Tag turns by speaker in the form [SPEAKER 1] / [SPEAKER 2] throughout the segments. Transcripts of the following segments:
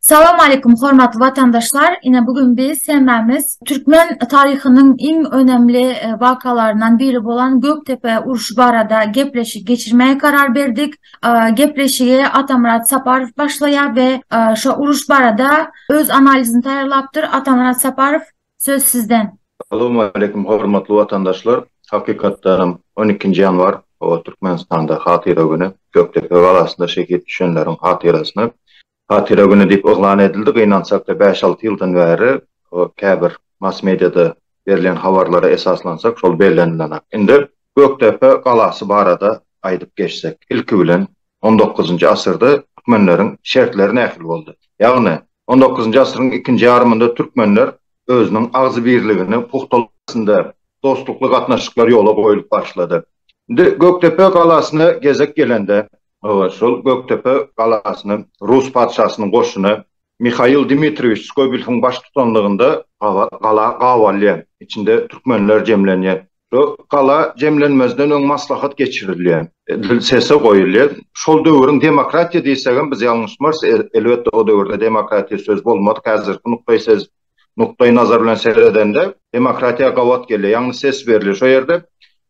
[SPEAKER 1] Salam aleýkum hormatly watandaşlar. Ine bu gün biz hemmämiz türkmen taryhynyň iň önemli e, wakalaryndan biri bolan Göktepe uruşy barada gepleşik geçirmäge karar berdik. E, gepleşigi Atamyrat Saparow başlaýar we e, şu uruş barada öz analizini taýýarlapdyr. Atamyrat Saparow Söz sizden. Salowmaleýkim
[SPEAKER 2] hormatly watandaşlar! Hakykatdanam on ikinji ýanwar o Türkmenistanda hatyra güni, Gökdepe galasynda şehit düşenleriň hatyrasyna hatyra güni diýip yglan edildi. Gynansakda bäş-alty ýyldan bäri o käbir mass mediada berlen habarlara esaslansak şol bellenilenak. Indi Gökdepe galasy barada aýdyp geçsek. Ilki bilen On dokuzynjy asyrda türkmenleriň şertleri nähili boldy? Ýagny, on dokuzynjy asyryň ikinji ýarymynda türkmenler özüniň agzybirligini pugtalamak arasynda dostlukly gatnaşyklar ýola goýlup başlady. Indi Gökdepe galasyna gezek gelende, şol Gökdepe galasyny rus patyşasynyň goşuny Mihail Dmitriýewiç Skobelewiň baştutanlygynda gala gabalýar. Içinde türkmenler jemlenýär. Bu gala jemlenmezden öň maslahat geçirilýär. Dil sese goýulýar. Şol döwrüň demokratiýa diýsegem biz ýalňyşmarys. Elbetde o döwürde demokratiýa söz bolmadyk. Häzirki nukdaý ses, nukdaý nazar bilen seredende demokratiýa gabat gelýär. Ýagny ses berilýär. Şo ýerde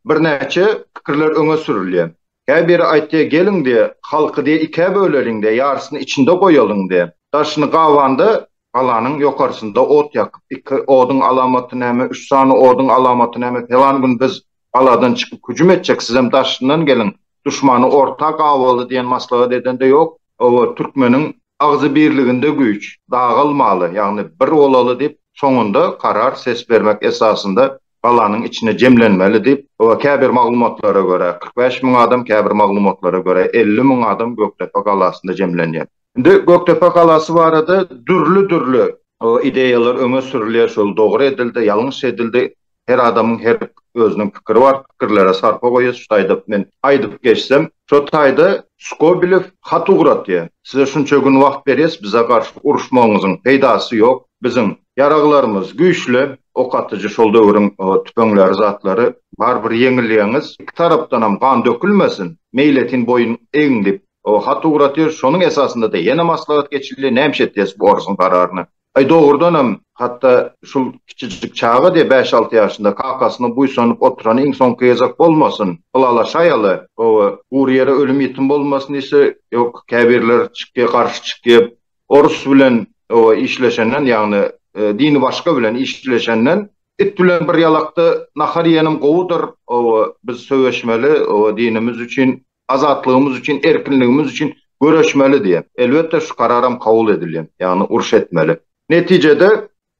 [SPEAKER 2] birnäçe pikirler öňe sürülýär. Hä biri aýtdy, Geliň-de, halky diýe ikä böleliň-de, ýarysyny içinde goýalyň-de. Daşyny gabanda, galanyň ýokarsynda ot ýakyp, iki oduň alamaty näme, üç sany oduň alamaty näme, pelan gün biz galadan çykyp hüjüm etjek, sizem daşyndan geliň, duşmany orta gabaly diýen maslahat edende ýok, oba türkmeniň agzy birliginde güýç, dagalmaly, ýagny bir bolaly diýip, soňunda karar ses bermek esasynda galanyň içine jemlenmeli diýip, käbir maglumatlara görä, kyrk bäş müň adam, käbir maglumatlara görä, elli müň adam Gökdepe galasynda jemlenýär. Indi Gökdepe galasy barada dürli-dürli ideýalar öňe sürülýär, şol dogry edildi, ýalňyş edildi, her adamyň her özüniň pikiri bar, pikirlere sarpa goýýas, şu taýda men aýdyp geçsem, şo taýda Skobelew hat ugratýar, size şunça gün wagt berýäs, bize garşy uruşmagyňyzyň peýdasy ýok, biziň Ýaraglarymyz güýçli, ok atyjy şol döwrüň tüpeňleri zatlary barybir ýeňilýäňiz. Iki tarapdanam gan dökülmesin, meýletin boýun egiň diýip hat ugratyr. Şonuň esasynda-da ýene maslahat geçildi. Nämişe etýäs bu orsuň gararyny? Aý dogrudanam hatda şul kiçijik çaga diýe bäş-alty ýaşynda kakasyna buýsanyp oturany iň soňky gezek bolmasyn? Ylalaşaýaly. Hawa, gury ýere ölüm-ýitim bolmasyn diýse, ýok, käbirler çykýa, garşy çykýa. Orus bilen owa işleşenden ýagny dini başga bilen işleşenden it bilen bir ýalakda nahar iýenim gowudyr owa biz söweşmeli owa dinimiz üçin azatlygymyz üçin erkinligimiz üçin göreşmeli diýen elbetde şu kararam kabul edilýän ýagny uruş etmeli netijede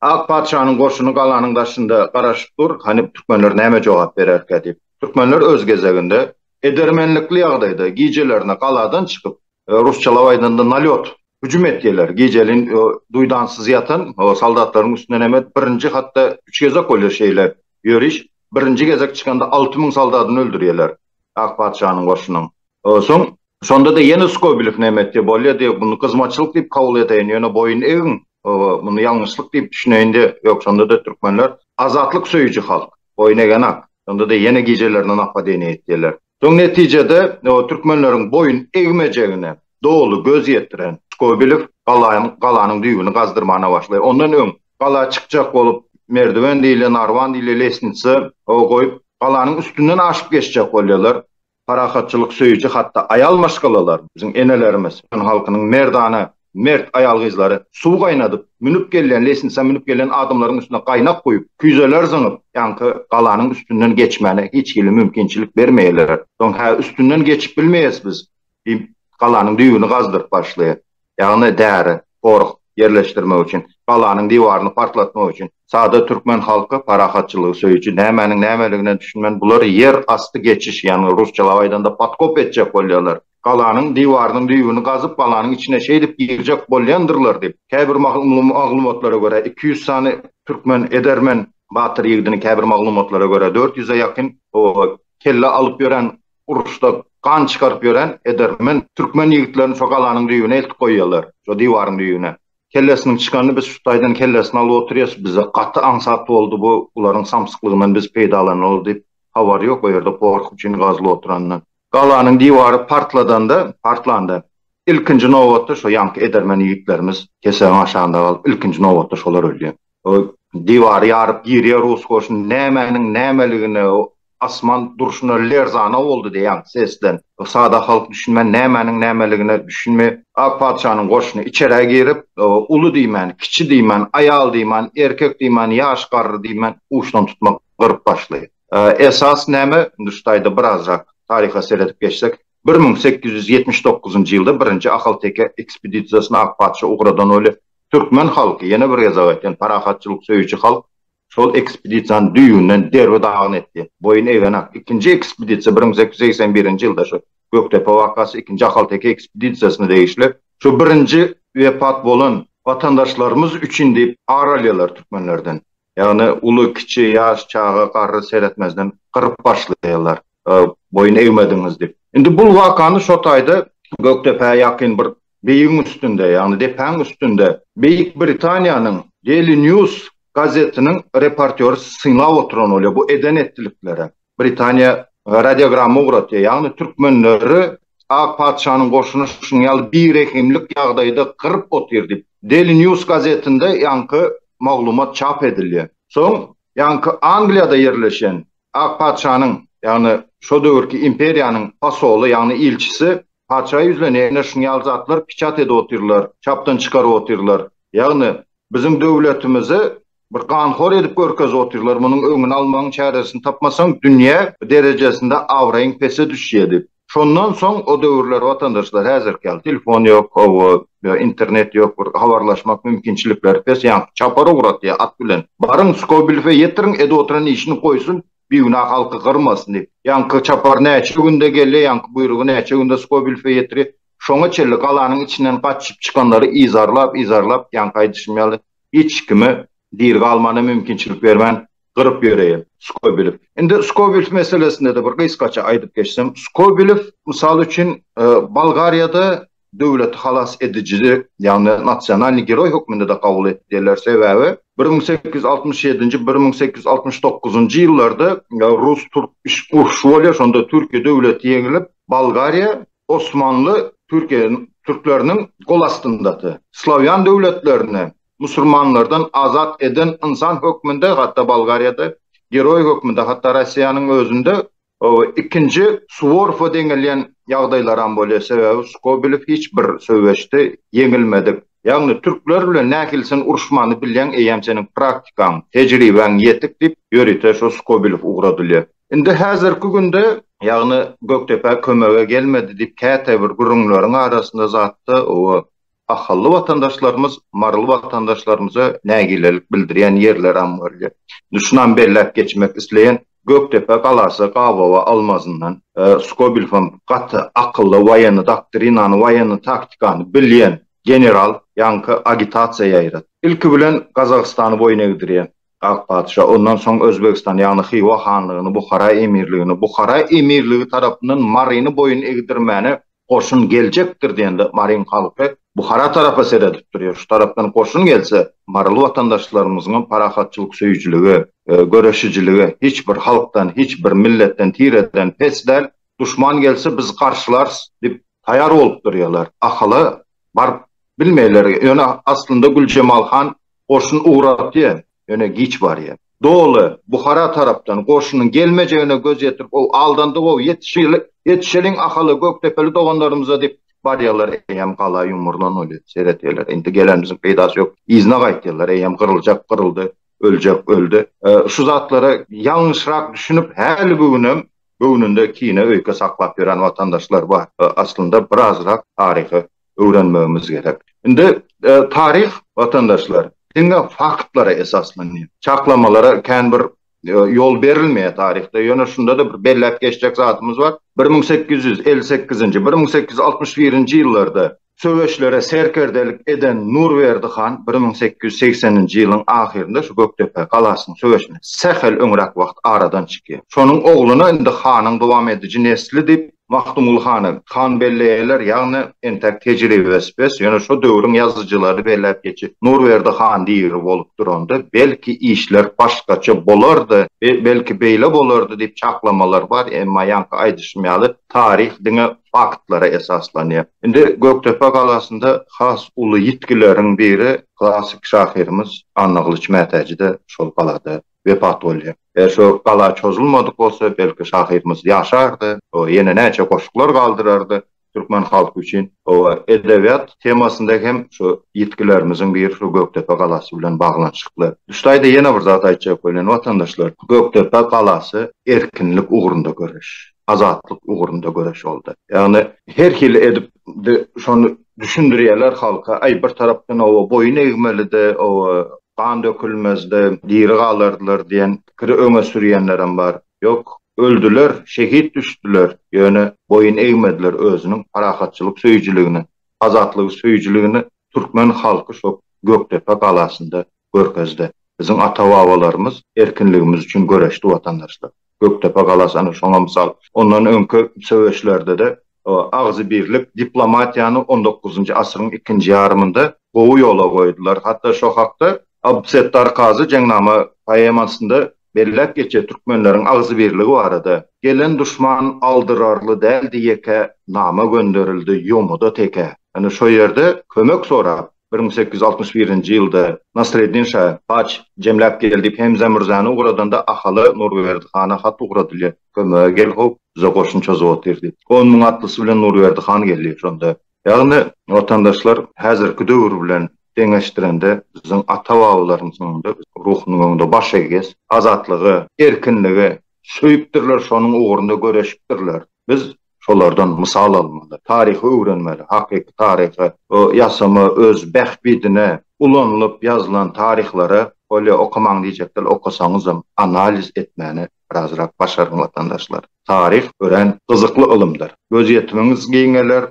[SPEAKER 2] Ak patyşanyň goşuny galanyň daşynda garaşyp dur, hany türkmenler näme jogap bererkä diýip. Türkmenler öz gezeginde edermenlikli ýagdaýda gijelerine galadan çykyp, rusçalap aýdanda nalýot, hüjüm etýärler. Gijeliň duýdansyz ýatan soldatlaryň üstünden hem edip birinji hatda üç gezek bolýar şeýle ýöriş. Birinji gezek çykanda alty müň soldadyny öldürýärler ak patyşanyň goşunyň. Soň Şonda-da ýene Skobelew näme etdi? Bolýa diýip, muny gyzmaçlyk diýip kabul edeýin, ýöne boýun egiň, muny ýalňyşlyk diýip düşüneýin-de, ýok, şonda-da türkmenler azatlyk söýüji halk, boýun egenak, şonda-da ýene gijelerine napadeniýe etýärler. Soň netijede türkmenleriň boýun egmejegine doly göz ýetiren Skobelew galanyň düýbüni gazdyrmana başlaýar. Ondan öň gala çykjak bolup, merdiwen diýilýän, arwan diýilýän lesnitsa goýup, galanyň üstünden aşyp geçjek bolýarlar. Parahatçylyk söýüji hatda aýal maşgalalar, biziň enelerimiz, türkmen halkynyň merdana, mert aýal-gyzlary suw gaýnadyp, münüp gelýän, leýsnisa münüp gelýän adamlaryň üstüne gaýnak guýup, küýzeler zyňyp, ýaňky galanyň üstünden geçmäne hiç hili mümkinçilik bermeýärler. Soň, Hä, üstünden geçip bilmeýäs biz, diýip, galanyň düýbüni gazdyryp başlaýar. ýagny däri, porh, ýerleşdirmek üçin, galanyň diwaryny partlatmak üçin. Sada türkmen halky parahatçylygy söýüji, nämäniň nämeligine düşünmän, bular ýer asty geçiş, ýagny rusçalap aýdanda podkop etjek bolýarlar. Galanyň diwarynyň düýbüni gazyp, galanyň içine şeýdip girjek bolýandyrlar diýip, käbir maglumatlara görä, iki ýüz sany türkmen edermen batyr ýigidini, käbir maglumatlara görä, dört ýüze ýakyn kelle alyp ýören uruşda gan çykaryp ýören edermen türkmen ýigitlerini şo galanyň düýbüne eltip goýýarlar, şo diwaryň düýbüne. Kellesiniň çykanyny biz şu taýdan kellesini alyp oturýas, bize gaty aňsat boldy bu, bularyň samsyklygyndan biz peýdalanaly diýip, habary ýok o ýerde gorky üçin gazylyp oturanyndan. Galanyň diwary partladanda, partlanda, ilkinji nobatda şo ýaňky edermen ýigitlerimiz kesegiň aşagynda galyp, ilkinji nobatda şolar ölýär. Ol diwary ýaryp girýär rus goşuny. Nämäniň nämeligine asman durşuna lerzana boldy diýýän sesden. Sada halk düşünmän nämäniň nämeligine düşünme. Ak patyşanyň goşuny içerä girip, uly diýmän, kiçi diýmän, aýal diýmän, erkek diýmän, ýaş garry diýmän uçdan tutma gyryp başlaýar. Esas näme, Nurtaýda birazrak taryha seredip geçsek, bir müň sekiz ýüz ýetmiş dokuzynjy ýylda birinji ahalteke ekspedisiýasyny ak patyşa ugradan welin, Türkmen halky, ýene bir gezek aýtýan, parahatçylyk söýüji halk şol ekspedisiýany düýbünden derbi-dagyn etdi, boýun egenak. Ikinji ekspedisiýa bir müň sekiz ýüz segsen birinji ýylda şu Gökdepe wakasy ikinji Ahalteke ekspedisiýasyna degişli. Şu birinji wepat bolan watandaşlarymyz üçin diýip ar alýarlar türkmenlerden. Ýagny uly, kiçi, ýaş, çaga, garry seretmezden gyryp başlaýarlar. Boýun egmediňiz diýip. Indi bul wakany şo taýda Gökdepä ýakyn bir beýigiň üstünde, ýagny depäň üstünde Beýik Britaniýanyň Daily News gazetiniň reportýory synlap oturan bolýar bu eden-etdiliklere. Britaniýa radiogramma ugratýar, ýagny türkmenleri ak patyşanyň goşuny şunuň ýaly birehimlik ýagdaýda gyryp otyr diýip, Daily News gazetinde ýaňky maglumat çap edilýär. Soň ýaňky Angliýada ýerleşen ak patyşanyň, ýagny şo döwürki imperiýanyň posoly, ýagny ilçisi patyşa ýüzlenende şunuň ýaly zatlar piçat edip otyrlar, çapdan çykaryp otyrlar, ýagny biziň döwletimizi Bir ganhor edip görkezip otyrlar munuň öňüni almagyň çäresini tapmasaň dünýä derejesinde abraýyň pese düşýä diýip. Şondan soň o döwürler watandaşlar häzirki ýaly telefon ýok hawa ýa internet ýok bir habarlaşmak mümkinçilikleri pes ýaňky çapar ugratýa at bilen baryň Skobelewe ýetiriň edi oturan işini goýsun bigünä halky gyrmasyn diýip ýaňky çapar näçe günde gelýä ýaňky buýrugy näçe günde Skobelewe ýetirýä şoňa çenli galanyň içinden gaçyp çykanlary yzarlap yzarlap ýaňky aýdyşym ýaly hiç kime diri galmana mümkinçilik bermän gyryp ýöreýär. Skobelew. Indi Skobelew meselesinde-de bir gysgaça aýdyp geçsem, Skobelew mysal üçin Bolgariýada döwleti halas edijidi, ýagny nasionalnyý geroý hökmünde-de kabul edýärler, sebäbi bir müň sekiz ýüz altmyş ýedinji, bir müň sekiz ýüz altmyş dokuzynjy ýyllarda rus-türk urşy bolýar, şonda Türkiýe döwleti ýeňilip, Bolgariýa Osmanly Türkiýäniň türkleriniň gol astyndady. Slawýan döwletlerini musurmanlardan azat eden ynsan hökmünde hatda Bolgariýada, geroý hökmünde hatda Rossiýanyň özünde ikinji Suworowa deňelýän ýagdaýlaram bolýar, sebäbi Skobelew hiç bir söweşde ýeňilmedik. Ýagny türkler bilen nähilsin uruşmany bilýäň eýýäm seniň praktikaň, tejribäň ýetik diýip ýörite şo Skobilow ugradylýar. Indi häzirki günde ýagny Gökdepe kömege gelmedi diýip käte bir gürrüňleriň arasynda zatda oba ahally watandaşlarymyz maryly watandaşlarymyza nägilelik bildirýän ýerleram bolýar. Indi şunam belläp geçmek isleýän. Gökdepe galasy gabawa almazyndan, Skobelew hem gaty akylly, woýenny doktrinany, woýenny taktikany bilýän general, ýaňky agitasiýa ýaýrat. Ilki bilen Gazagystany boýun egdirýär Ak patyşa, ondan soň Özbegistany, ýagny Hywa hanlygyny, Buhara emirligini, Buhara emirligi tarapyndan Maryny boýun egdirmäne Goşun geljekdir diýende maryň halky Buhara tarapa seredip durýar. Şu tarapdan goşun gelse, maryly watandaşlarymyzyňam parahatçylyk söýüjiligi, göreşijiligi hiç bir halkdan, hiç bir milletden, tireden pes däl. Duşman gelse biz garşylarys diýip taýar bolup durýarlar. Ahala baryp bilmeýärler. Ýöne aslynda Güljemal han goşun ugratýar. ýöne giç barýar. Doly, Buhara tarapdan goşunyň gelmejegine göz ýetirip, o aldandy-ow, ýetişeli, ýetişeliň Ahala, Gökdepeli doganlarymyza diýip, barýarlar, eýýäm gala ýumrulan welin, seretýärler, indi gelenimiziň peýdasy ýok, yzyna gaýtýarlar, eýýäm gyryljak gyryldy, öljek öldi. Şu zatlara ýalňyşrak düşünip, häli-bu günem göwnünde kine, öýke saklap ýören watandaşlar bar. Aslynda birazrak taryhy öwrenmegimiz gerek. Indi taryh watandaşlar diňe faktlara esaslanýar. Çaklamalara kän bir ýol berilmeýär taryhda. Ýöne şunda-da bir belläp geçjek zadymyz bar. Bir müň sekiz ýüz elli sekizinji, bir müň sekiz ýüz altmyş birinji ýyllarda söweşlere serkerdelik eden Nurberdi han bir müň sekiz ýüz segseninji ýylyň ahyrynda şu Gökdepe galasynyň söweşine sähel öňräk wagt aradan çykýar. Şonuň ogluna indi hanyň dowam ediji nesli diýip Magtymguly hany han belleýärler, ýagny entäk tejribesi pes, ýöne şo döwrüň ýazyjylary belläp geçýär. Nurberdi han diri bolup duranda, belki işler başgaça bolardy, belki beýle bolardy diýip çaklamalar bar, emma ýaňky aýdyşym ýaly, taryh diňe faktlara esaslanýar. Indi Gökdepe galasynda has uly ýitgileriň biri, klassyk şahyrymyz Annagylyç Mätäji-de şol galada wepat bolýar. Eger şo gala çozulmadyk bolsa, belki şahyrymyz ýaşardy, o ýene näçe goşglar galdyrardy türkmen halky üçin. Oba, edebiýat temasynda hem şu ýitgilerimiziň biri şu Gökdepe galasy bilen baglanyşykly. Duşdaýda ýene bir zat aýtjak welin, watandaşlar, Gökdepe galasy erkinlik ugrunda göreş. azatlyk ugrunda göreş boldy. Ýagny her hili edip şony düşündirýärler halka, aý bir tarapdan oba boýun egmelidi, oba gan dökülmezdi, diri galardylar diýen pikiri öňe sürýänlerem bar. Ýok, öldüler, şehit düşdüler, ýöne boýun egmediler özüniň parahatçylyk söýüjiligini, azatlygy söýüjiligini türkmen halky şo Gökdepe galasynda Görkezde biziň ata-babalarymyz erkinligimiz üçin göreşdi watandaşlar. Gökdepe galasy ana şoňa mysal. Ondan öňki söweşlerde-de agzybirlik diplomatiýany on dokuzynjy asyryň ikinji ýarymynda gowy ýola goýdular. Hatda şo hakda Abdussettar Kazy Jeňnama poemasynda belläp geçýär türkmenleriň agzybirligi barada. Gelen duşman aldyrarly däldi ýeke, nama gönderildi ýomuda teke. Ine şo ýerde kömek sorap, Bir müň sekiz ýüz altmyş birinji ýylda Nasreddin şa paç jemläp gel diýip Hemze Mürzäni ugradanda Ahala Nurberdi hana hat ugradylýar, Kömege gel how, bize goşun çozap otyr diýip. On müň atlysy bilen Nurberdi han gelýär şonda. Ýagny, watandaşlar häzirki döwür bilen deňeşdirende biziň ata-babalarymyz öňünde ruhunyň öňünde baş egýäs. Azatlygy, erkinligi söýüpdirler, şonuň ugrunda göreşipdirler. Biz şolardan mysal almaly, taryhy öwrenmeli, hakyky taryhy ýasama öz bähbidine ulanylyp ýazylan taryhlary bolýa okamaň diýjekler, okasaňyzam analiz etmäni birazrak başaryň watandaşlar. Taryh örän gyzykly ylymdyr. Gözýetimiňiz giňeler,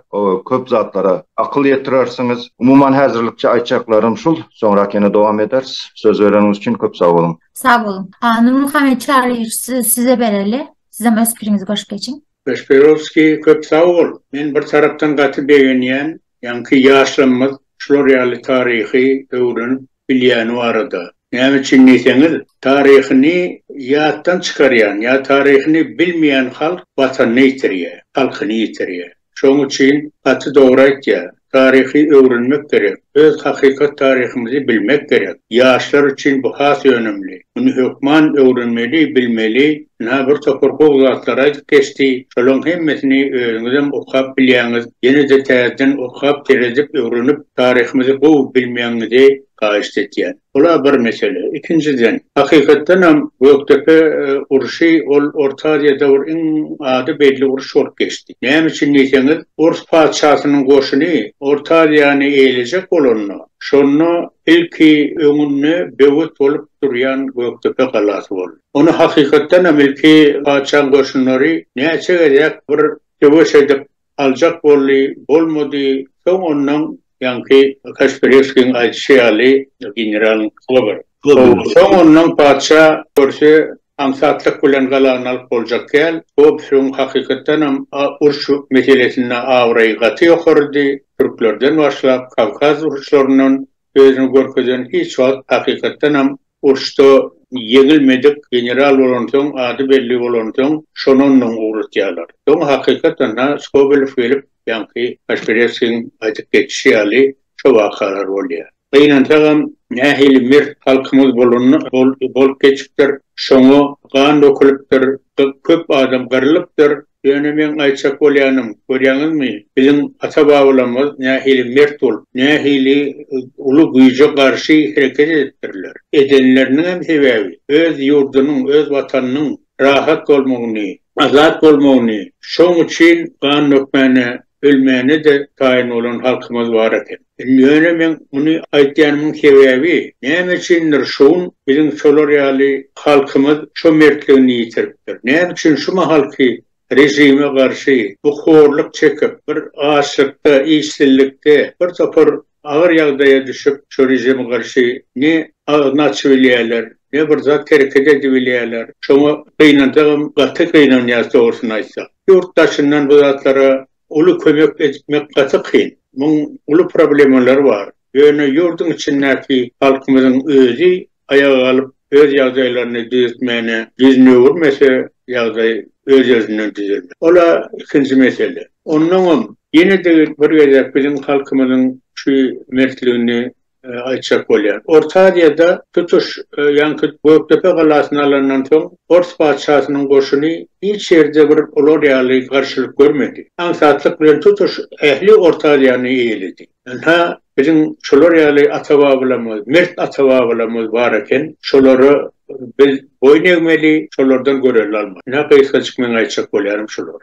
[SPEAKER 2] köp zatlara akyl ýetirersiňiz. Umuman häzirlikçe aýtjaklarym şul, soňrak ýene dowam ederis. Söz bereniňiz üçin köp sag boluň. Sag boluň.
[SPEAKER 1] Hany Çary size bereli. Sizem öz pikiriňizi goşup geçiň. Kasperovskiý
[SPEAKER 3] köp sag bol. Men bir tarapdan gaty begenýän ýaňky ýaşlarymyz şular ýaly taryhy öwrenip bilýäni barada. Näme üçin diýseňiz taryhyny ýatdan çykarýan ýa taryhyny bilmeýän halk watanyny ýitirýä, halkyny ýitirýä. Şoň üçin gaty dogry aýtýar. Taryhy öwrenmek gerek. Öz hakykat taryhymyzy bilmek gerek. Ýaşlar üçin bu has önümli. Muny hökman öwrenmeli, bilmeli. Ynha bir topar gowy zatlar aýdyp geçdi. Şolaň hemmesini özüňizem okap bilýäňiz. Ýene-de täzeden okap, seredip, öwrenip, taryhymyzy gowy bilmegiňizi haýyşt etýän. Bula bir mesele. Ikinjiden, hakykatdan hem Gökdepe urşy ol Orta Aziýa döwür iň ady belli uruş bolup geçdi. Näme üçin diýseňiz, ors patyşasynyň goşuny Orta Aziýany eýlejek bolanda, şonda ilki öňünde böwet bolup durýan Gökdepe galasy boldy. Ony hakykatdan hem ilki patyşaň goşunlary näçe gezek bir söweş edip, aljak boldy, bolmady, soň ondan ýaňky Kaşpireskiň aýdyşy ýaly generalyň puly bar. Soň ondan patyşa görse aňsatlyk bilen galany alyp boljak däl. Gobsuň hakykatdanam uruş meselesinde abraýy gaty ýokarydy, türklerden başlap Kawkaz uruşlaryndan özüni görkezen hiç wagt hakykatdanam urşda ýeňilmedik general bolansoň ady belli bolansoň şony ondan ugratýarlar. Soň hakykatdanda Skobelew gelip ýaňky Kaşpireskiň aýdyp geçişi ýaly şo wakalar bolýa. Gynansagam nähili mert halkymyz bolanda bolup geçipdir, şoňa gan dökülipdir, köp adam gyrylypdyr, Ýöne meň aýtjak bolýanym, görýäňizmi, biziň ata-babalarymyz nähili mert bolup, nähili uly güýje garşy hereket edipdirler. Edenleriniňem sebäbi, öz ýurdunyň, öz Watanynyň rahat bolmagyny, azat bolmagyny, şoň üçin gan dökmäne, ölmäne-de taýyn bolan halkymyz bar eken. Ýöne meň muny aýtýanymyň sebäbi, näme üçindir şu gün biziň şolar ýaly halkymyz şo mertligini ýitiripdir. Näme üçin şu mahalky režime garşy bu horluk çekip, bir açlykda, işsizlikde, bir topar agyr ýagdaýa düşüp, şo režime garşy ne agzyny açybilýärler, ne bir zat hereket edibilýärler. Şoňa gynanjagam gaty gynanýas dogrusyny aýtsak. Ýurt daşyndan bu zatlara Uly kömek etmek gaty kyn. Muň uly problemalary bar. Ýöne ýurduň içindäki halkymyzyň özi aýaga galyp, öz ýagdaýlaryny düzetmäne ýüzüni öwürmese, ýagdaý öz-özünden düzelmez. Ol-a ikinji mesele. Onnoňam, ýene-de bir gezek biziň halkymyzyň şu mertligini aýtjak bolýar. Orta Aziýada tutuş ýaňky Gökdepe galasyny alandan soň Pors patyşasynyň goşuny hiç ýerde bir olar ýaly garşylyk görmedi. Aňsatlyk bilen tutuş ähli Orta Aziýany eýeledi. Ynha, biziň şolar ýaly ata-babalarymyz, mert ata-babalarymyz bar eken, şolara biz boýun egmeli, şolardan görelde almaly. Ynha, gysgajyk meň aýtjak bolýarym şular.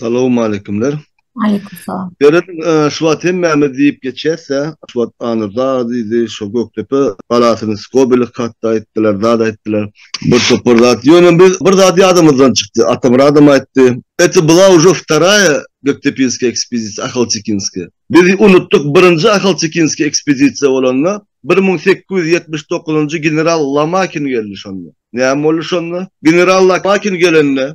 [SPEAKER 1] Salowmaleýkimler.
[SPEAKER 4] Aleýkum salam.
[SPEAKER 1] Berat, şu
[SPEAKER 4] wagt hemmämiz diýip geçýäs-ä, şu wagt Anyrda diýdi, şo Gökdepe galasyny Skobelew hatda aýtdylar, zat aýtdylar, bir topar zat. Ýöne biz bir zat ýadymyzdan çykdy, Atamyradam aýtdy, Eto bula uje wtaraýa Göktepinskiýa ekspedisiýa, Ahaltekinskiýa. Biz unutdyk, birinji Ahaltekinskiýa ekspedisiýa bolanda, bir müň sekiz ýüz ýetmiş dokuzynjy general Lomakin geldi şonda. Näme boldy şonda? General Lomakin gelende,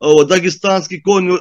[SPEAKER 4] o, Dagestanskiý kony,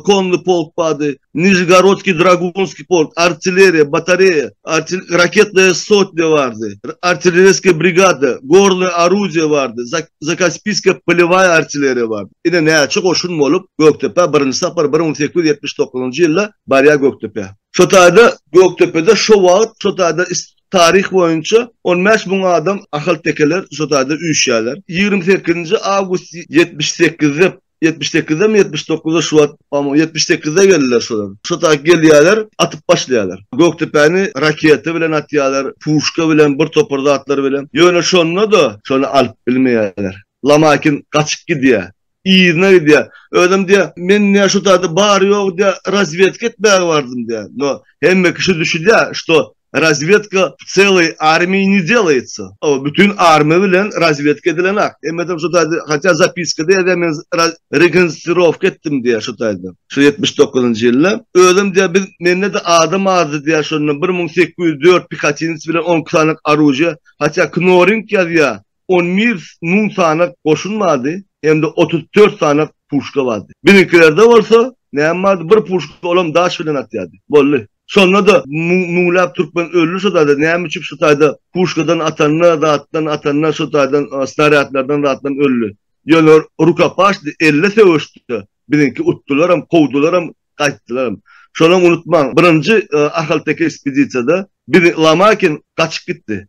[SPEAKER 4] konny polk bardy, Nižegorodskiý dragunskiý polk, artilleriýa, batareýa, artil, raketnaýa sotnýa bardy, artilleriýskiý brigada, gornyý orudiýa bardy, Zakaspiskiýa polewaýa artilleriýa bardy. Ine, näçe goşun bolup, Gökdepä birinji sapar bir müň sekiz ýüz ýetmiş dokuzynjy ýylda barýar Gökdepä. Şo taýda Gökdepede şo wagt, şo taýda Taryh boýunça on bäş müň adam ahaltekeler şu taýda üýşýärler. Ýigrimi sekizinji awgust ýetmiş sekizde ýetmiş sekizem ýetmiş dokuzda şu wagt amo ýetmiş sekizde geldiler şolar. Şu taýda gelýärler, atyp başlaýarlar. Gökdepäni raketa bilen atýarlar, puşka bilen, bir topar zatlar bilen. Ýöne şonda-da şony alyp bilmeýärler. Lomakin gaçyp gidýär. Yzyna gidýär. Özem diýýär, men diýýär şu taýda bary-ýogy diýýär razwedka etmäge bardym diýýär. No, hemme kişi düşünýär, şto razwedka w celoý armiýi ne delaýtsa. Ow, bütin armiýa bilen razwedka edilenok. Hemmesem şu taýda, hatýa zapiskada ýazýar men raz rekonstrowka etdim diýýär şu taýda. Şu ýetmiş dokuzynjy ýylda. Özem diýýär biz mende-de adam azdy diýýär şonda bir müň sekiz ýüz dört pikatinec bilen on iki sany oružýe, hatýa knorring ýazýar, On bir müň sanak goşun bardy, hem-de otuz dört sanak puşka bardy. Biziňkilerde bolsa, näme bardy, bir puşka, olam daş bilen atýardy. Boldy. Şonda-da müňläp türkmen öldi şo taýda, näme üçin şo taýda puşkadan atanda, zatdan atanda, şo taýdan snarýadlardan, zatdan öldi. Ýöne rukopaşdy, elle söweşdi. Biziňki utdularam, kowdularam, gaýtdylaram. Şonam unutmaň, birinji ahalteke ekspedisiýada bizi Lomakin gaçyp gitdi.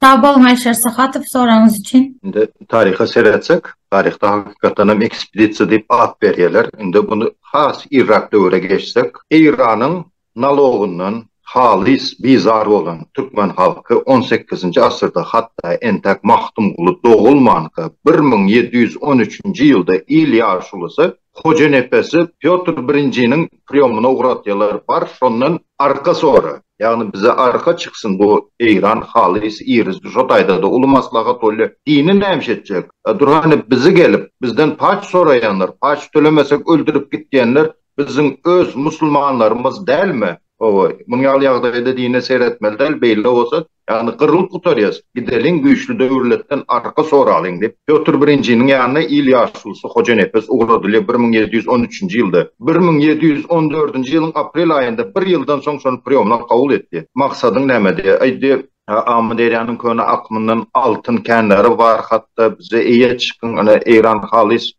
[SPEAKER 5] Sag boluň Aýşar
[SPEAKER 1] Sahatow soragyňyz üçin. Indi taryha
[SPEAKER 2] seretsek, taryhda hakykatdan hem ekspedisiýa diýip at berýärler. Indi muny has irräk döwüre geçsek, Eýranyň nalogyndan halys bizar bolan türkmen halky on sekizinji asyrda hatda entäk Magtymguly dogulmanka bir müň ýedi ýüz on üçünji ýylda il ýaşulusy Hojanepesi Pýotr Birinjiniň priýomyna ugratýarlar, bar, şondan arka sora, ýagny bize arka çyksyn, bu Eýran halys irizi, şo taýda-da uly maslahat bolýar, dini nämiş etjek, durhany bizi gelip, bizden paç soraýanlar, paç tölemesek öldürip git diýenler biziň öz musulmanlarymyz dälmi? Hawa, munuň ýaly ýagdaýda dine seretmeli däl, beýle bolsa Ýagny gyrylyp gutarýas, gideliň güýçli döwürletden arka soralyň diýip, Pýotr Birinjiniň ýanyna il ýaşulusy Hojanepes ugradylýar bir müň ýedi ýüz on üçünji ýylda. Bir müň ýedi ýüz on dördünji ýylyň aprel aýynda bir ýyldan soň şony priýomlar kabul etdi. Maksadyň nämedi? Aýtdy. Amyderýanyň köne akymyndan altyn känleri bar, hatda bize eýe çykyň, ine, Eýran halys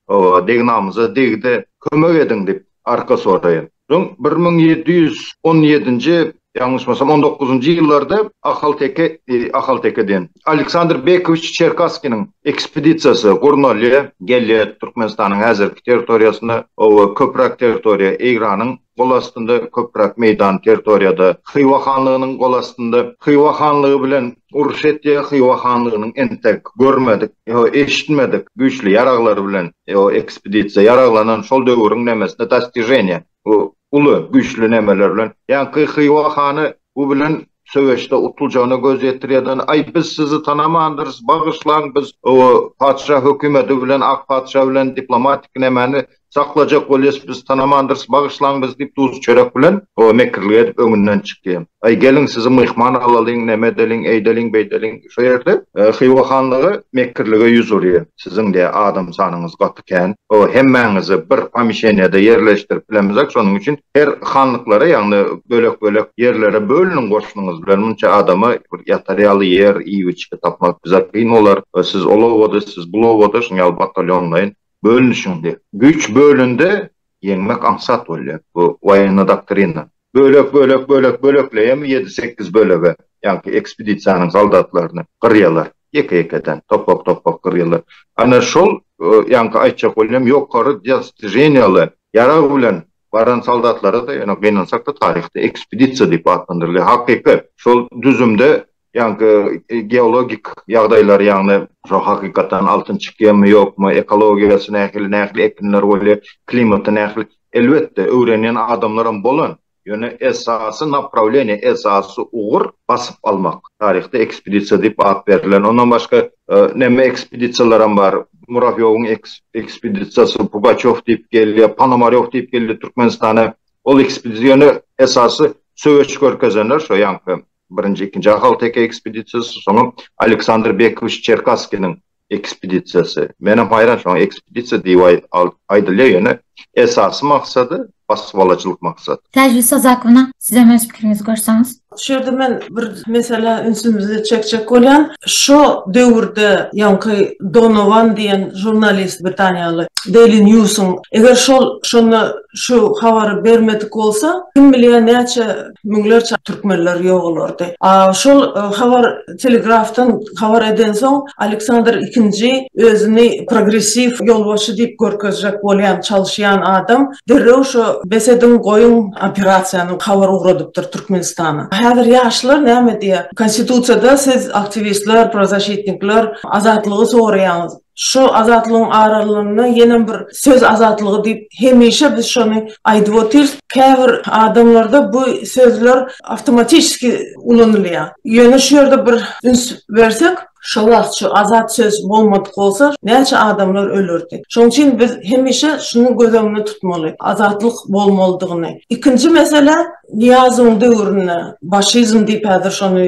[SPEAKER 2] degn-namyza degdi, kömek ediň diýip. Arka soraýyn. Soň bir müň ýedi ýüz on ýedinji, ýalňyşmasam, on dokuzynjy ýyllarda ahalteke, ahalteke diýen, Aleksandr Bekowiç Çerkasskiniň ekspedisiýasy gurnalýar, gelýär Türkmenistanyň häzirki territoriýasyna, oba, köpräk territoriýa Eýranyň gol astynda, köpräk meýdan territoriýada Hywa hanlygynyň gol astynda. Hywa hanlygy bilen Orsýetiýa Hywa hanlygynyň entek görmedik, ýa-da eşitmedik güýçli ýaraglary bilen, ýa ekspedisiýa ýaraglanan şol döwüriň nemesine dostiženiýa, bu uly, güýçli nemeler bilen, ýaňky Hywa hany bu bilen söweşde utuljagyna göz ýetirýärden, Aý, biz sizi tanamandyrys, bagyşlaň, biz o patyşa hökümeti bilen, ak patyşa bilen diplomatik nemäni Saklajak bolýas biz tanamandyrys bagyşlaň biz diýip duz çörek bilen o mekirlik edip öňünden çykýa. Aý geliň sizi myhman alalyň neme edeliň eýdeliň beýdeliň şo ýerde Hywa hanlygy mekirlige ýüz urýa siziň diýä adam sanyňyz gaty kän o hemmäňizi bir pomişeniýada ýerleşdirip bilemizok şonuň üçin her hanlyklara ýagny bölek bölek ýerlere bölüniň goşunyňyz bilen munça adama bir ýatar ýaly ýer iýip içgi tapmak bize kyn bolar siz ol obada siz bul obada şuň ýaly batalýonlaýyn Bölünişiňde, güýç bölünde ýeňmek aňsat bolýar. Bu woýennoý doktrina. Bölek, bölek, bölek, bölekleýärmi ýedi-sekiz bölege, ýaňky ekspedisiýanyň soldatlaryny gyrýarlar. Ýeke-ýekeden, topak-topak gyrýarlar. Ana şol, ýaňky aýtjak bolýan ýokary dostijeniýaly ýarag bilen baran soldatlara-da, ýöne gynansak-da taryhda ekspedisiýa diýip atlandyrylýar. Hakyky, şol düzümde ýaňky e, geologik ýagdaýlar, ýagny şu hakykatdan altyn çykýarmy, ýokmy, ekologiýasy nähili, nähili ekinler bolýar, klimaty nähili. Elbetde, öwrenýän adamlaram bolan, ýöne esasy naprawleniýe, esasy ugur basyp almak. Taryhda ekspedisiýa diýip at berlen. Ondan başga e, näme ekspedisiýalaram bar. Murawýowyň ekspedisiýasy, Pugaçow diýip gelýär, Ponomarýow diýip gelýär Türkmenistana. Ol ekspedisiýa ýöne esasy söweş görkezenler, şo ýaňky Birinji, ikinji ahalteke ekspedisiýasy, soňam Aleksandr Bekowiç Çerkasskiniň ekspedisiýasy. Menem haýran şoňa ekspedisiýa diýip aýdylýar, ýöne esasy maksady basybalyjylyk maksat. Täjli Sazakowna,
[SPEAKER 1] sizem öz pikiriňizi goşsaňyz? Şu ýerde men bir
[SPEAKER 6] meselä ünsümizi çekjek bolýan. Şo döwürde ýaňky Donowan diýen žurnalist britaniýaly Daily News-yň eger şol şonda şu habary bermedik bolsa, kim bilýär näçe Müňlerçe türkmenler ýogalardy. A şol habar telegrafdan habar edensoň, Aleksandr II özüni progressiw ýolbaşçy diýip görkezjek bolýan, çalyşýan adam derrew şo bes ediň, goýuň operasiýany habar ugradypdyr Türkmenistana. Häzir ýaşlar näme diýýär? Konstitusiýada siz aktiwistler, prozasitnikler azatlygy soraýaňyz. Şu Azatlygyň aralygynda ýenem bir söz azatlygy diýip hemişe biz şony aýdyp otyrys. Käbir adamlarda bu sözler awtomatiski ulanylýar. Ýöne şu ýerde bir üns bersek, şo wagt şu azat söz bolmadyk bolsa näçe adamlar ölerdi. Şonuň üçin biz hemişe şuny göz öňünde tutmaly, azatlyk bolmalydygyny. Ikinji mesele, Nyýazowyň döwründe, başizm diýip häzir şony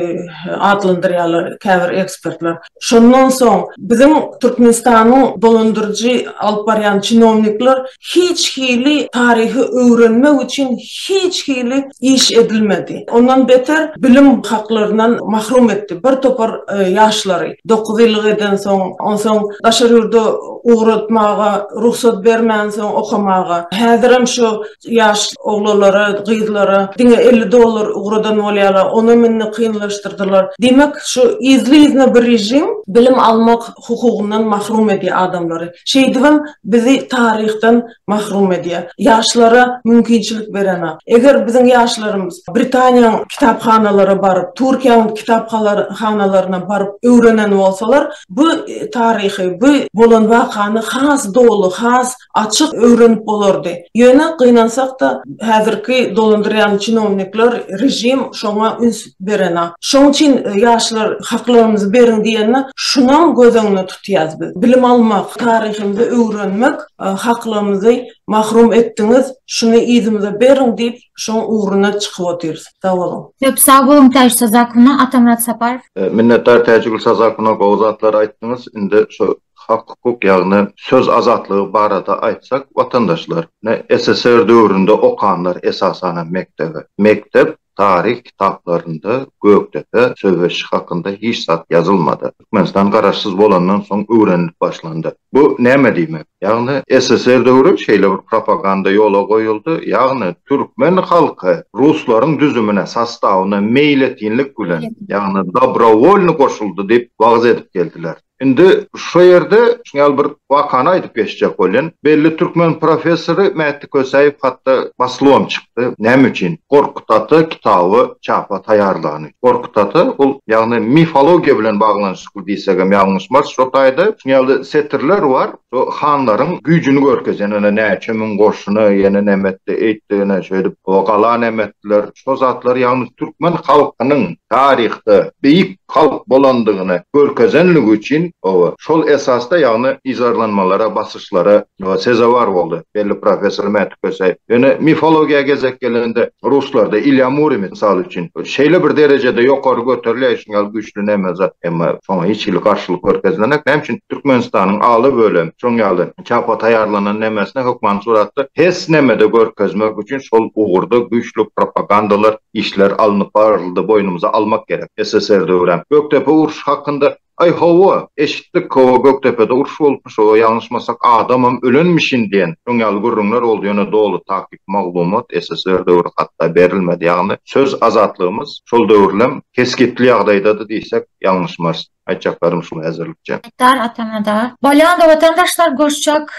[SPEAKER 6] atlandyrýarlar käbir ekspertler. Şondan soň biziň Türkmenistanyň dolandyryjy alyp barýan çinownikler hiç hili taryhy öwrenmek üçin hiç hili iş edilmedi. Ondan beter bilim haklaryndan mahrum etdi bir topar ýaşlary. Dokuz ýyllyk edensoň, onsoň daşary ýurda ugratmaga rugsat bermänsoň okamaga. Häzirem şu Ýaş oglanlara, gyzlara diňe elli dollar ugradan bolýarlar, onam indi kynlaşdyrdylar. Diýmek, şu yzly-yzyna bir režim bilim almak hukugyndan mahrum edýär adamlary. Şeýdibem bizi taryhdan mahrum edýär. Ýaşlara mümkinçilik berenok. Eger biziň ýaşlarymyz Britaniýanyň kitaphanalara baryp, Türkiýäniň kitaphanalaryna baryp öwrenen bolsalar, bu taryhy, bu bolan wakany has doly, has açyk öwrenip bolardy. Ýöne gynansak-da, häzirki dolandyrýan çinownikler, režim şoňa üns berenok. Şoň üçin ýaşlar haklarymyzy beriň diýende, şunam göz öňüne tutýas biz. Bilim almak, taryhymyzy öwrenmek haklarymyzy mahrum etdiňiz, şuny yzymyza beriň diýip, şoň ugruna çykyp otyrys. Sag boluň. Köp sag boluň Täji
[SPEAKER 1] Sazakowna, Atamyrat Saparow. Minnetdar Täjigül
[SPEAKER 2] Sazakowna gowy zatlar aýtdyňyz, indi şu Hak-hukuk, ýagny söz azatlygy barada aýtsak, watandaşlar, ine, SSR döwründe okanlar esasanam mekdebe. Mekdep taryh kitaplarynda Gökdepe söweşi hakynda hiç zat ýazylmady. Türkmenistan garaşsyz bolandan soň öwrenilip başlandy. Bu näme diýmek? Ýagny SSR döwri şeýle bir propaganda ýola goýuldy, ýagny türkmen halky ruslaryň düzümine, sostawyna meýletinlik bilen, ýagny dobrowolny goşuldy diýip wagyz edip geldiler. Indi şu ýerde ýaly bir wakany aýdyp geçjek bolýan. Belli türkmen professory Mätdi Kösäýew hatda baslywam çykdy. Näme üçin? Gorkut ata kitaby çapa taýýarlany. Gorkut ata ol ýagny mifologiýa bilen baglanyşykly diýsegem ýalňyşmarys. Şo taýda şu ýaly setirler bar. Şo hanlaryň güýjüni görkezýän ene näçe müň goşuny ýene näme etdi, eýtdi ene şeýdip o gala näme etdiler. şo zatlar ýagny türkmen halkynyň taryhda beýik halk bolandygyny görkezenligi üçin hawa şol esasda ýagny yzarlanmalara basyşlara sezewar boldy belli professor Mäti Köseýew. Ýöne mifologiýa gezek gelende ruslarda Ilýa Murimi mysal üçin şeýle bir derejede ýokary göterilýär şuň ýaly güýçli näme zat emma şoňa hiç hili garşylyk görkezilenek näme üçin Türkmenistanyň aly bölem şoň ýaly Çapa taýýarlanan nemesini hökmany suratda hes nemede görkezmek üçin şol ugurda güýçli propagandalar işler alnyp baryldy boýnumyza almak gerek SSR döwürem Gökdepe urşy hakynda Aý hawa eşitdik hawa Gökdepede uruş bolupmyş hawa ýalňyşmasak adamam ölenmişin diýen şoň ýaly gürrüňler boldy ýöne doly takyk maglumat SSR döwri hatda berilmedi ýagny söz azatlygymyz şol döwürlem kesgitli ýagdaýdady diýsek ýalňyşmarys. Aýtjaklarym şu häzirlikçe. Muhtar Atamada.
[SPEAKER 1] Bolýanda watandaşlar görşjek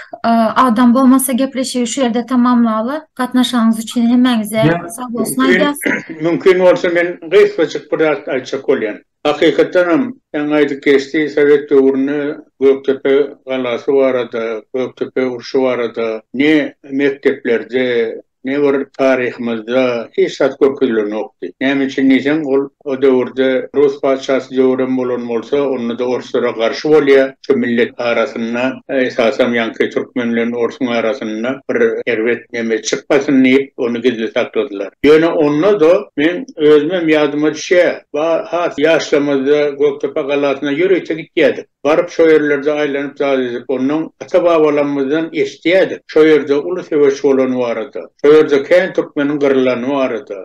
[SPEAKER 1] adam bolmasa gepleşigi şu ýerde tamamlaly. Gatnaşanyňyz üçin hemmäňize sag bolsun aýdýas. Mümkin bolsa
[SPEAKER 3] men gysgajyk bir zat aýtjak bolýan. Hakykatdanam ýaňy aýdyp geçdi sowet döwründe Gökdepe galasy barada, Gökdepe urşy barada ne mekdeplerde Ne bir taryhymyzda hiç zat görkezilenokdy. Näme üçin diýseň, ol o döwürde rus patyşasy döwrem bolan bolsa, onda-da orslara garşy bolýar. Şu millet arasynda, esasam ýaňky türkmen bilen orsuň arasynda bir erbet neme çykmasyn diýip, ony gizli sakladylar. Ýöne onda-da meň özümem ýadyma düşýär, ba has ýaşlygymyzda Gökdepe galasyna ýörite gitýärdik. Baryp şo ýerlerde aýlanyp zat edip ondan ata-babalarymyzdan eşidýädik. Şo ýerde uly söweş bolany barada. Şo ýerde kän türkmeniň gyrylany barada.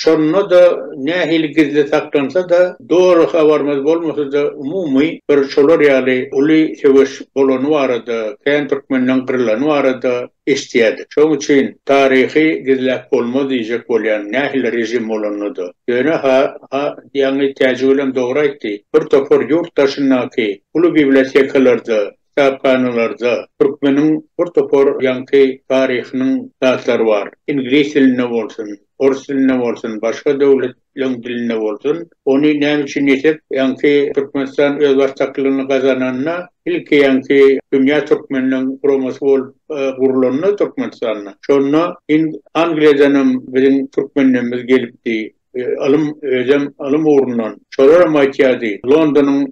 [SPEAKER 3] Şonda-da nähili gizli saklansa-da, doly habarymyz bolmasa-da umumy bir şolar ýaly uly söweş bolany barada, kän türkmeniň gyrylany barada eşidýärdik. Şoň üçin taryhy gizläp bolmaz diýjek bolýan nähili režim bolanda-da. Ýöne ha, ha, ýaňy täjigölem dogry aýtdy. Bir topar ýurt daşyndaky uly bibliotekalarda, kitaphanalarda türkmeniň bir topar ýaňky taryhynyň zatlary bar. Iňlis dilinde bolsun, ors dilinde bolsun, başga döwlet Öň dilinde bolsun. Ony näme üçin diýsek, ýaňky Türkmenistan özbaşdaklygyny gazananda, ilki ýaňky dünýä türkmeniniň guramasy bolup gurlanda Türkmenistanda, şonda hind Angliýadan hem biziň türkmenlerimiz gelipdi. Ylym, özem ylym ugrundan. Şolar hem aýtýardy, Londonyň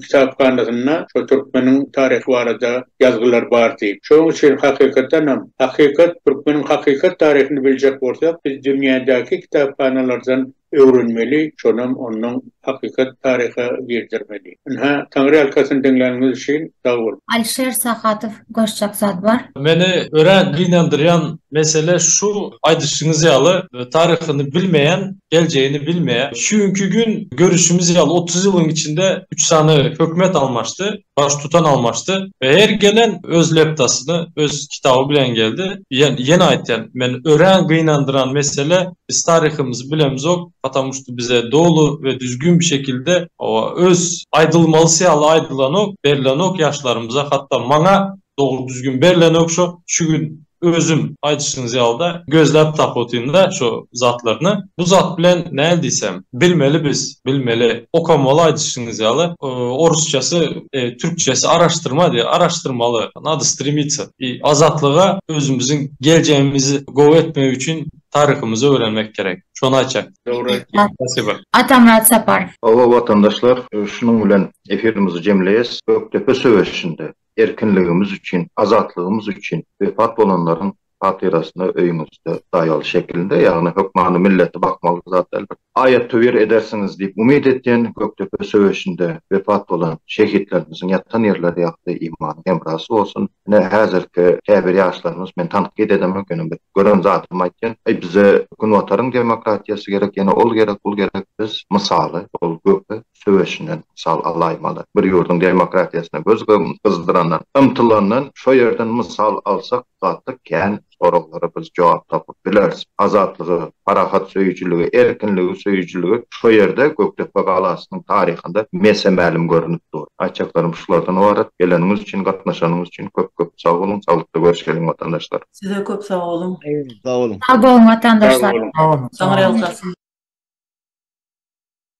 [SPEAKER 3] kitaphanasynda şol türkmeniň taryhy barada ýazgylar bar diýip. Şonuň üçin hakykatdan hem, hakykat, türkmeniň hakykat taryhyny biljek bolsak, biz dünýädäki kitaphanalardan öwrenmeli, şonam ondan hakykat taryha girdirmeli. Ynha, Taňryýalkasyn diňläniňiz üçin sag boluň. Alişer Sahadow
[SPEAKER 1] goşjak zat bar. Meni örän
[SPEAKER 5] gynandyrýan mesele şu aýdyşyňyz ýaly taryhyny bilmeýän geljegini bilmeýär. Şu günki gün görüşimiz ýaly otuz ýylyň içinde üç sany hökümet almaşdy, baştutan almaşdy we her gelen öz leptasyny, öz kitaby bilen geldi. Ýene aýtýan, men örän gynandyran mesele biz taryhymyzy bilemizok, patamu şta bize doly we düzgün bir şekilde öz aýdylmalysy ýaly aýdylanok, berlenok ýaşlarymyza hatda maňa Dogry düzgün berlenok şo şu gün özüm aýdyşyňyz ýalyda gözläp tapyotynda şo zatlaryny. Bu zat bilen näl diýsem bilmeli biz bilmeli okamaly aýdyşyňyz ýaly orusçasy türkçesi araştyrma diýe araştyrmaly nada strimita i azatlyga özümiziň geljegimizi gowy etmek üçin taryhymyzy öwrenmek gerek şony aýtjak. Dogry aýtýaň spasiba.
[SPEAKER 3] Atamyrat
[SPEAKER 1] Saparow. Hawa watandaşlar
[SPEAKER 2] şunuň bilen efirimizi jemleýes Gökdepe söweşinde Erkinligimiz üçin, azatlygymyz üçin wepat bolanlaryň hatyrasyna öýüňizde daýaly şekilinde, ýagny hökmany milleti bakmaly zat däldir. Aýat-töwir edersiňiz diýip umyt etýän, Gökdepe söweşinde wepat bolan şehitlerimiziň ýatan ýerleri ýagty imany hemrasy bolsun. Ine, häzirki käbir ýaşlarymyz, men tankyt edemok, ýöne bir gören zadymy aýtýan, Aý, bize Günbataryň demokratiýasy gerek, ýene ol gerek, bul gerek, biz mysaly, ol Göke, söweşinden mysal alaýmaly. Bir ýurduň demokratiýasyna göz gyzdyrandan, ymtylandan şo ýerden mysal alsak, gaty kän soraglara biz jogap tapyp bileris. Azatlygy, parahat söýüjiligi, erkinligi söýüjiligi şo ýerde Gökdepe galasynyň taryhynda mese-mälim görnüp dur. Aýtjaklarym şulardan ybarat. Geleniňiz üçin, gatnaşanyňyz üçin köp-köp sag boluň. Saglykda görüşeliň watandaşlar. Size köp
[SPEAKER 6] sag boluň. Sag boluň. Sag
[SPEAKER 1] boluň
[SPEAKER 6] watandaşlar. Sag boluň. Saňa real sarsyn.